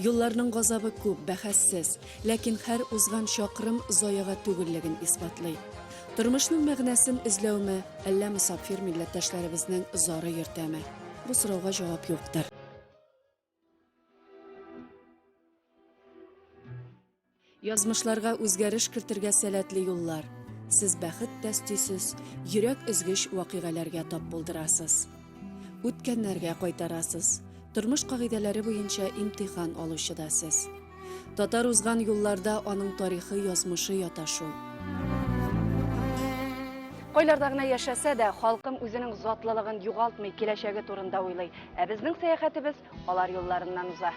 Юлларның газабы күп, бәхәссез, ләкин һәр узган чакрым заяга түгеллеген исбатлый. Тормышның мәгънәсен эзләүме, әллә мосапфир милләттәшләребезнең зары йөртәме? Бу сорауга җавап юктыр. Язмышларга үзгәреш кертергә сәләтле юллар. Сез бәхет тә стисез, йөрәк өзгеч вакыйгаләргә тап булдырасыз. Үткәннәргә кайтарасыз. Тормыш кагыйдәләре буенча имтихан алучы да сез. Татар узган юлларда аның тарихы, язмышы ята шул. Кайларда гына яшәсә дә, халкым үзенең затлылыгын югалтмый, киләчәге турында уйлый. Ә безнең сәяхәтебез алар юлларыннан уза.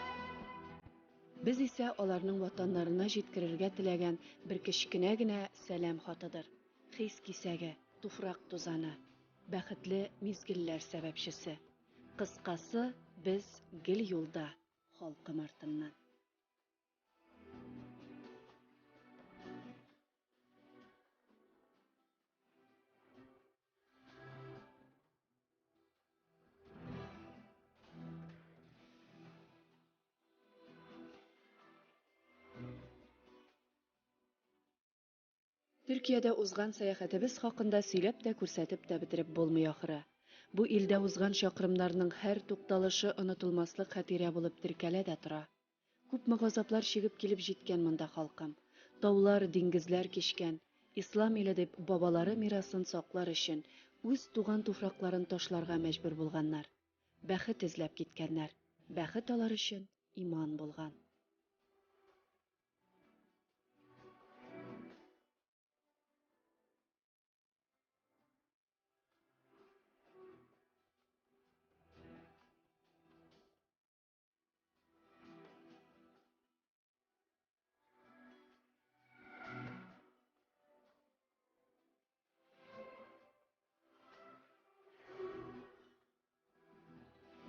Без исә аларның ватаннарына җиткерергә теләгән бер кечкенә генә сәлам хатыдыр, хис кисәге, туфрак тузаны, бәхетле мизгелләр сәбәпчесе. Кыскасы, без гел юлда, халкым артыннан. Төркиядә узган сәяхәтебез хакында сөйләп тә күрсәтеп тә бетереп булмый ахыры. Бу илдә узган чакрымнарның һәр тукталышы онытылмаслык хатирә булып теркәлә дә тора. Күпме газаплар чигеп килеп җиткән монда халкым. Таулар, диңгезләр кичкән. Ислам иле дип, бабалары мирасын саклар өчен, үз туган туфракларын ташларга мәҗбүр булганнар. Бәхет эзләп киткәннәр. Бәхет алар өчен иман булган.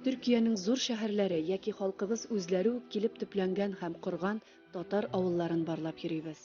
Төркиянең зур шәһәрләре яки халкыбыз үзләре үк килеп төпләнгән һәм корган татар авылларын барлап йөрибез.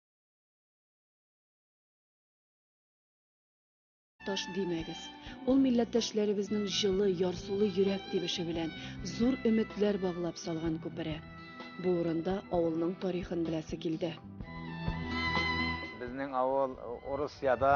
Таш димәгез. Ул милләттәшләребезнең җылы, ярсулы йөрәк тибеше белән зур өметләр баглап салган күпере. Бу урында авылның тарихын беләсе килде. Безнең авыл Урысиядә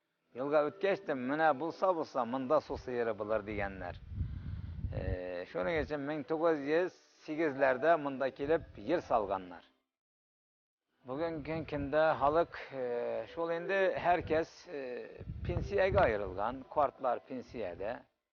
Елга үткәч тә, менә булса-булса, монда су сыеры булыр, дигәннәр. Шуның өчен 1908-ләрдә монда килеп ел салганнар. Бүгенге көндә халык шул инде, һәркәс пенсиягә аерылган, картлар пенсиядә.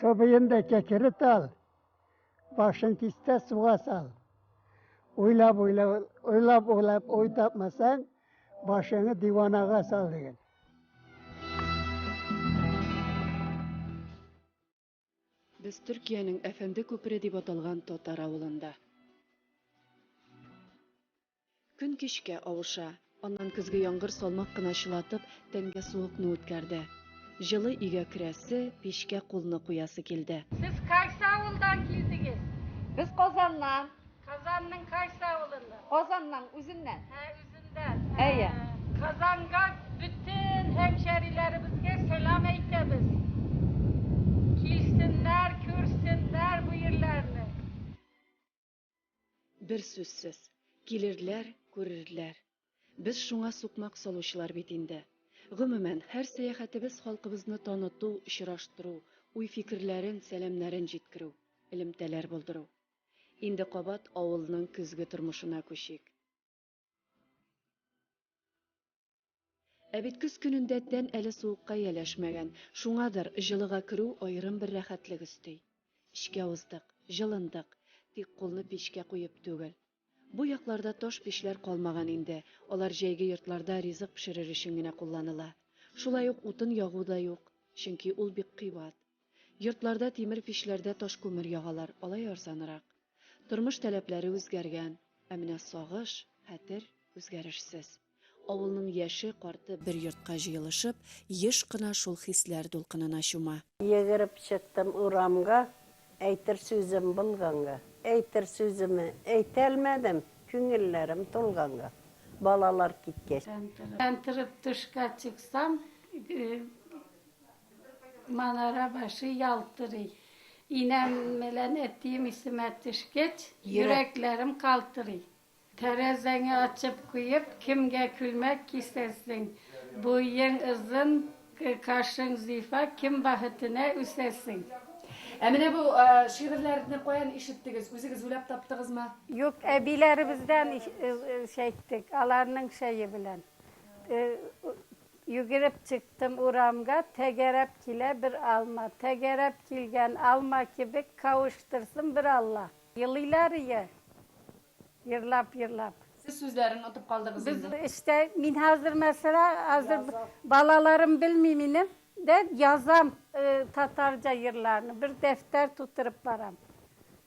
Сабыем да кәкерет ал, башын кистә суга сал. Уйлап, уйлап, уйлап, уйлап, уй тапмасаң, башыңы диванага сал деген. Без Төркиянең Әфәнде күпере дип аталган татар авылында. Көн кичкә авыша. Аннан көзге яңгыр салмак кына чылатып, тәнгә суыкны үткәрде. Җылы өйгә керәсе, пичкә кулны куясы килде. Сез кайсы авылдан килдегез? Без Казаннан. Казанның кайсы авылыннан? Казанның үзеннән. Ә, үзендән. Әйе. Казанга бөтен һәмшәриләребезгә сәлам әйтәбез. Килсеннәр, күрсеннәр бу ирләрне. Бер сүзсез, килерләр, күрерләр. Без шуңа сукмак салучылар бит инде. Гомумән, һәр сәяхәтебез халкыбызны таныту, очраштыру, уй-фикерләрен, сәламнәрен җиткерү, элемтәләр булдыру. Инде кабат авылның көзге тормышына күчик. Ә бит көз көнендә тән әле суыкка яләшмәгән, шуңадыр, җылыга керү аерым бер рәхәтлек өсти. Эчкә уздык, җылындык, тик кулны пичкә куеп түгел. Бу якларда таш пичләр калмаган инде, алар җәйге йортларда ризык пешерер өчен генә кулланыла. Шулай ук утын ягу да юк, чөнки ул бик кыйбат. Йортларда тимер пичләрдә таш күмер ягалар, алай арзанрак. Тормыш таләпләре үзгәргән, ә менә сагыш, хәтер, үзгәрешсез. Авылның яше, карты бер йортка җыелышып, еш кына шул хисләр дулкынына чума. Йөгереп чыктым урамга, Әйтер сүзем булганга. Әйтер сүземне әйтәлмәдем, Күңелләрем тулганга. Балалар киткәч. Тәнтереп төшкә чыксам, Манара башы ялтырый. Инәм белән әтием исемә төшкәч, йөрәкләрем калтырый. Тәрәзәңе ачып куеп, кемгә күлмәк кисәсең? Буең озын, кашың зифа, кем бәхетенә үсәсең? Ә менә бу шигырьләрне каян ишеттегез? Үзегез уйлап таптыгызмы? Юк, әбиләребездән ишеттек, аларның чәе белән. Йөгереп чыктым урамга, Тәгәрәп килә бер алма. Тәгәрәп килгән алма кебек, Кавыштырсын бер Алла. Елыйлар ие, ерлап-ерлап. Сез сүзләрен отып калдыгыз инде. Без эштә, мин хәзер мәсәлә, хәзер балаларым белми минем, дә язам татарча җырларны, бер дәфтәр тутырып барам.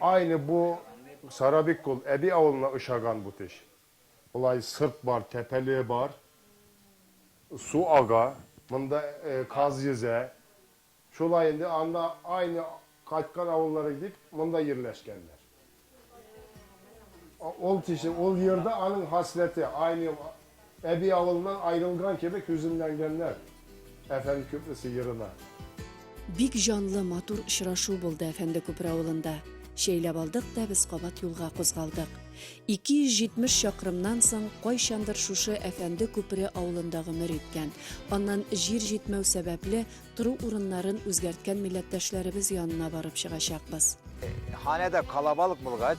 Айне бу Сара бик кул, әби авылына очаган бу теш. Болай сырт бар, тәпәле бар. Су ага, монда каз йөзә. Шулай инде анда Айны кайткан авыллары дип монда йирләшкәннәр. Ул тише, ул йирдә аның хасләте, Айны Әби авылыннан айрылган кебек һүзенләнгәннәр. Әфәнде күплесе ерына. Бик җанлы, матур очрашу булды Әфәнде күпер авылында. Чәйләп алдык та без кабат юлга кузгалдык. 270 чакрымнан соң кайчандыр шушы Әфәнде күпере авылында гомер иткән, аннан җир җитмәү сәбәпле тору урыннарын үзгәрткән милләттәшләребез янына барып чыгачакбыз. Ханәдә калабалык булгач.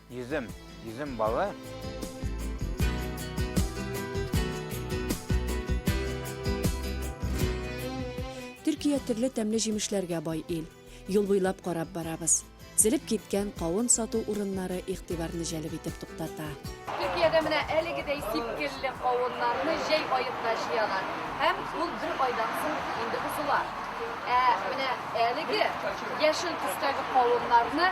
Йөзем, йөзем балы. Төркия төрле тәмле җимешләргә бай ил. Юл буйлап карап барабыз. Зелеп киткән кавын сату урыннары игътибарны җәлеп итеп туктата. Төркиядә менә әлегедәй сипкелле кавыннарны җәй аенда җыялар. Һәм ул бер айдан соң инде бозыла. Ә менә әлеге яшел төстәге кавыннарны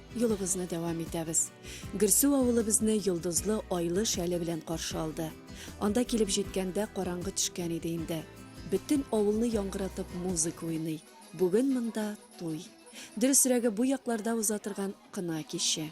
Юлыбызны дәвам итәбез. Гөрсү авылы безне йолдызлы айлы шәле белән каршы алды. Анда килеп җиткәндә караңгы төшкән иде инде. Бөтен авылны яңгыратып музыка уйный. Бүген монда туй. Дөресрәге бу якларда уза торган кына киче.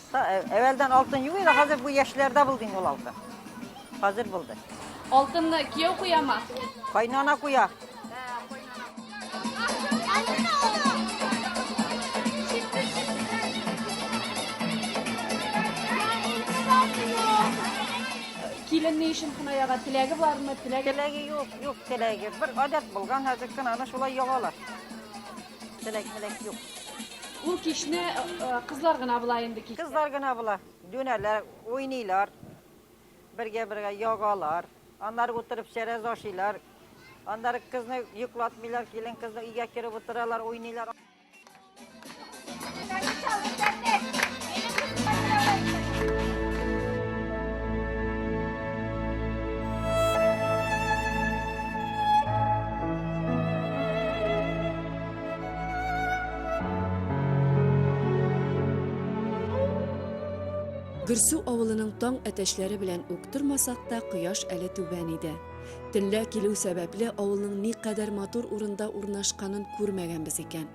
Әвәлдән алтын юк иде, хәзер бу яшьләрдә булды инде ул алтын. Хәзер булды. Алтынны кияү куяма? Кайнана куя. Килен ни өчен кына яга? Теләге бармы? Теләге Теләге юк, юк теләге. Бер гадәт булган, хәзер кенә аны шулай ягалар. Ул кичне кызлар гына була инде кичтә. Кызлар гына була. Дөнәләр, уйныйлар. Бергә-бергә ягалар. Аннары утырып чәрәз ашыйлар. Аннары кызны йоклатмыйлар, килен кызны өйгә кереп утыралар, уйныйлар. Гөрсу авылының таң әтәчләре белән үк тормасак та, кояш әле түбән иде. Төнлә килү сәбәпле авылның никадәр матур урында урнашканын күрмәгәнбез икән.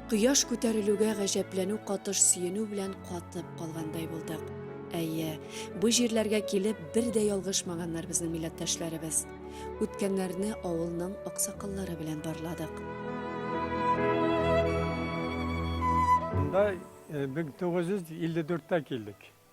Кояш күтәрелүгә гаҗәпләнү катыш сөенү белән катып калгандай булдык. Әйе, бу җирләргә килеп бер дә ялгышмаганнар безнең милләттәшләребез. Үткәннәрне авылның аксакаллары белән барладык. Монда 1954 та килдек.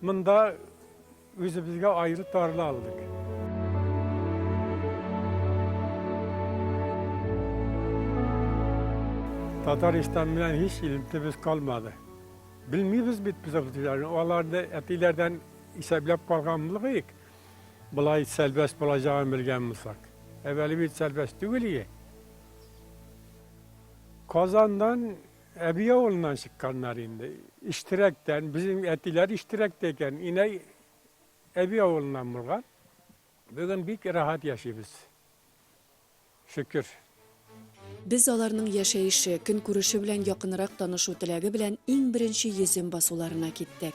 Монда үзебезгә айры тарла алдык. Татарстан белән һич илемтебез калмады. Белмибез бит без абзыйларны, аларны әтиләрдән исәпләп калган булыйк. Болай сәлбәс булачагын белгән булсак. Әвәле бит сәлбәс түгел иде. Казаннан Әби авылыннан чыкканнар инде. Иштирәктән. Безнең әтиләр Иштирәктә икән. Инәй әби авылыннан булган. Бүген бик рәхәт яшибез. Шөкер. Без аларның яшәеше, көнкүреше белән якынрак танышу теләге белән иң беренче йөзем басуларына киттек.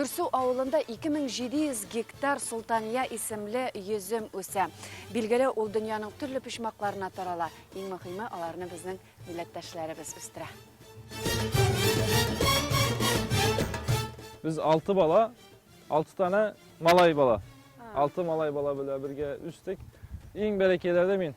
Гөрсу авылында 2700 гектар Султания исемле йөзем үсә. Билгеле, ул дөньяның төрле почмакларына тарала. Иң мөһиме, аларны безнең милләттәшләребез үстерә. Без алты бала, алты тана малай бала. Алты малай бала белән бергә үстек. Иң бәләкәйләрдә мин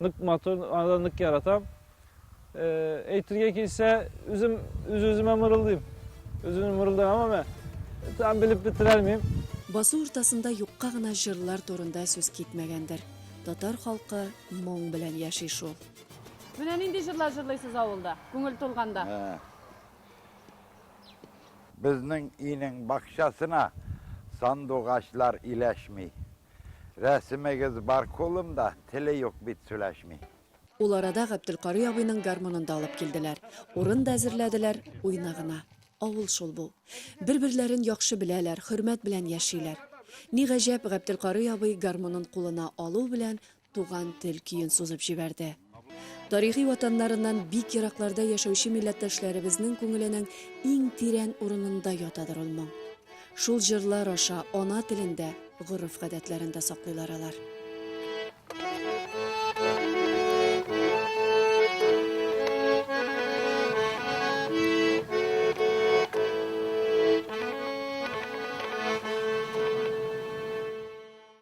Нык матур, аны да нык яратам. Әйтергә килсә, үзем үз-үземә мырылдыйм. Үземне мырылдыйм, әмма там белеп бетерәлмим. Басу уртасында юкка гына җырлар турында сүз китмәгәндер. Татар халкы моң белән яши шул. Менә нинди җырлар җырлыйсыз авылда, күңел тулганда? Безнең өйнең бакчасына сандугачлар иләшми. Рәсемегез бар кулымда, теле юк бит, сүләшми. Ул арада Габделкарый абыйның гармунын да алып килделәр. Урын да әзерләделәр, уйна гына. Авыл шул бу. Бер-берләрен яхшы беләләр, хөрмәт белән яшиләр. Ни гаҗәп, Габделкарый абый гармунын кулына алу белән Туган тел көен сузып җибәрде. Тарихи ватаннарыннан бик еракларда яшәүче милләттәшләребезнең күңеленең иң тирән урынында ятадыр ул моң. Шул җырлар аша ана телендә, гореф-гадәтләрендә саклыйлар алар.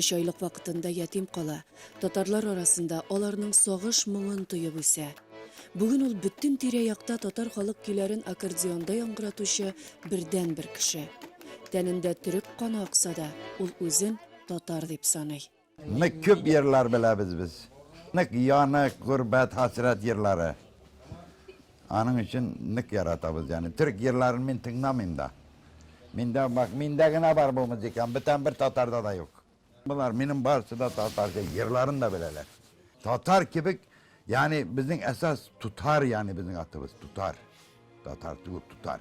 Өч айлык вакытында ятим кала, татарлар арасында аларның сагыш моңын тоеп үсә. Бүген ул бөтен тирә-якта татар халык көйләрен аккордеонда яңгыратучы бердәнбер кеше. Тәнендә төрек каны акса да, ул үзен татар дип саный. Нык күп йырлар беләбез без. Нык янык, гөрбәт, хәсрәт йырлары. Аның өчен нык яратабыз яны. Төрек җырларын мин тыңламыйм да. Миндә бак, миндә генә бар бу музыка, бүтән бер татарда да юк. Булар, минем барысы да татар ди, җырларын да беләләр. Татар кебек, яни безнең әсас тутар яни безнең атыбыз тутар. Татар түгел, тутар.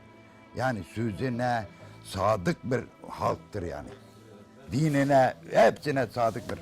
Яни сүзенә садык бер халыктыр яни. Диненә, әпсенә садык бер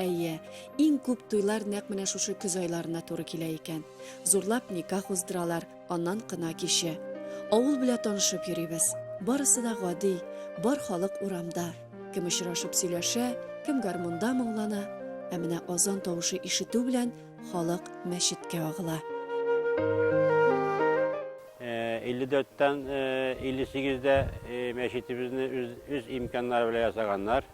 Әйе, иң күп туйлар нәкъ менә шушы көз айларына туры килә икән. Зурлап никах уздыралар, аннан кына киче. Авыл белә танышып йөрибез. Барысы да гади, бар халык урамда. Кем очрашып сөйләшә, кем гармунда моңлана. Ә менә азан тавышы ишетү белән халык мәчеткә агыла. 54-тән 58-дә мәчетебезне үз имканнары белән ясаганнар.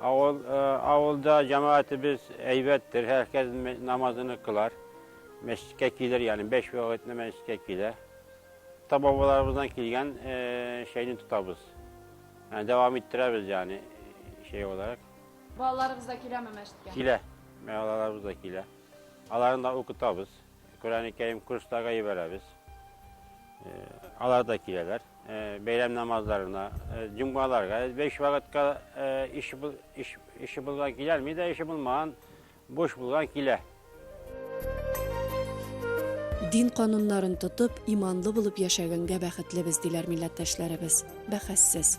Авыл авылда җәмәгатебез әйбәт тер һәркез намазыны кылар. Мәчеткә килер, ягъни бәш вакытны мәчеткә килә. Ата бабаларыбыздан килгән шәйне тотабыз. Ә дәвам иттерәбез, ягъни шәй буларак. Балаларыбыз да киләме мәчеткә? Килә. Балаларыбыз да килә. Аларны да укытабыз. Коръәни Кәрим курсларга җибәрәбез. Алар да киләләр. Бәйрәм намазларына, җомгаларга, биш вакытка ише булган киләлми дә, ише булмаган, буш булган килә. Дин кануннарын тотып, иманлы булып яшәгәнгә бәхетлебез, диләр милләттәшләребез. Бәхәссез.